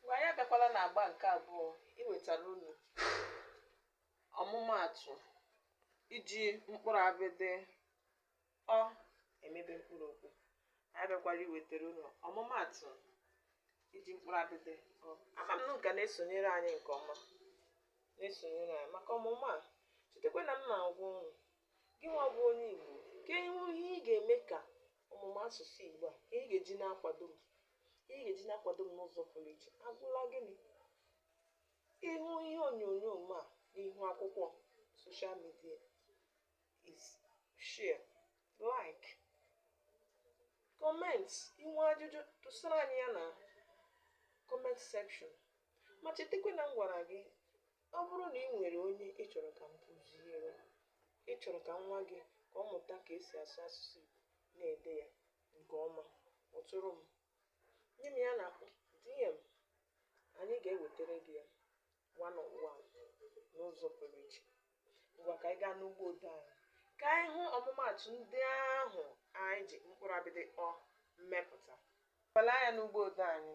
ngwa anyị abịakwala na agba nke abụọ iwetara unu ọmụmaatụ iji mkpụrụ abịdị ọ emebe mkpụrụ okwu anyị bịakwara iwetara unu ọmụmaatụ iji mkpụrụ abịdị ọ ama m na unu ka na-esonyere anyị nke ọma na-esonyere anyị maka ọmụmụ a chetakwa na m na-agwa unu gị nwa bụ onye igbo kedu ihe ị ga-eme ka ọmụmụ asụsụ Igbo a ihe ị ga-eji na-akwado m ihe ị ga-eji na-akwado m n'ụzọ pụrụ iche abụrụla gịnị ị hụ ihe onyonyo m a n'ihu akwụkwọ social media ị share like comment i nwee ajụjụ tụsara anyị ya na comment section ma chetakwa na m gwara gị Ọ bụrụ na ị nwere onye ị chọrọ ka m kụziere, ị chọrọ ka nwa gị ka ọ mụta ka esi asụ asụsụ Igbo na-ede ya nke ọma, kpọtụrụ m. Nye m ya na DM, anyị ga-ewetara gị ya one on one n'ụzọ pụrụ iche. Ngwa ka anyị gaa n'ugbo ode anyị ka anyị hụ ọmụmaatụ ndị ahụ anyị ji mkpụrụ abịdị ọ mepụta. Ngwala anya n'ugbo ode anyị.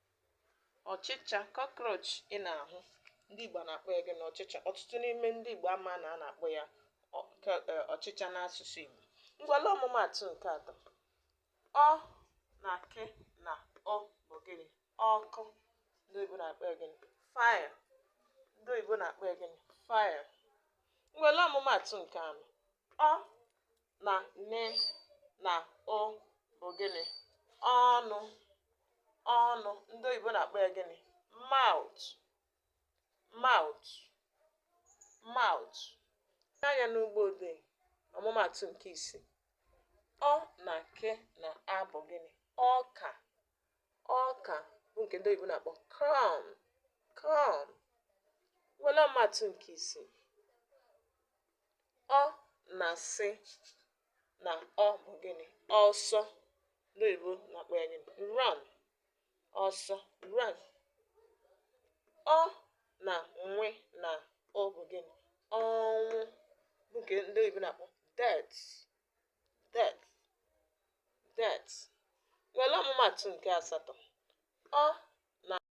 ọchịcha cockroach ị na-ahụ ndị Igbo na-akpọ ya gịnị ọchịcha ọtụtụ n'ime ndị Igbo ama na a na-akpọ ya ọchịcha n'asụsụ Igbo ngwala ọmụmaatụ nke atọ ọ na ke na ụ bụ gịnị ọkụ ndị oyibo na-akpọ ya gịnị fire ndị oyibo na-akpọ ya gịnị fire ngwala ọmụmaatụ nke anọ ọ na ne na ụ bụ gịnị ọnụ ọnụ ndị oyibo na-akpọ ya gịnị mouth mouth mouth anya n'ugbo odee ọmụmaatụ nke ise ọ na ke na a bụ gịnị ọka ọka bụ nke ndị oyibo na-akpọ corn corn were ọmụmaatụ nke isii Ọ na sị na ọ bụ gịnị? Ọsọ ndị oyibo na-akpọ ya gịnị? Run. Ọsọ run. Ọ na nwe na ụ bụ gịnị? Ọnwụ bụ nke ndị oyibo na-akpọ death. Death. Death. Were ọmụmaatụ nke asatọ. Ọ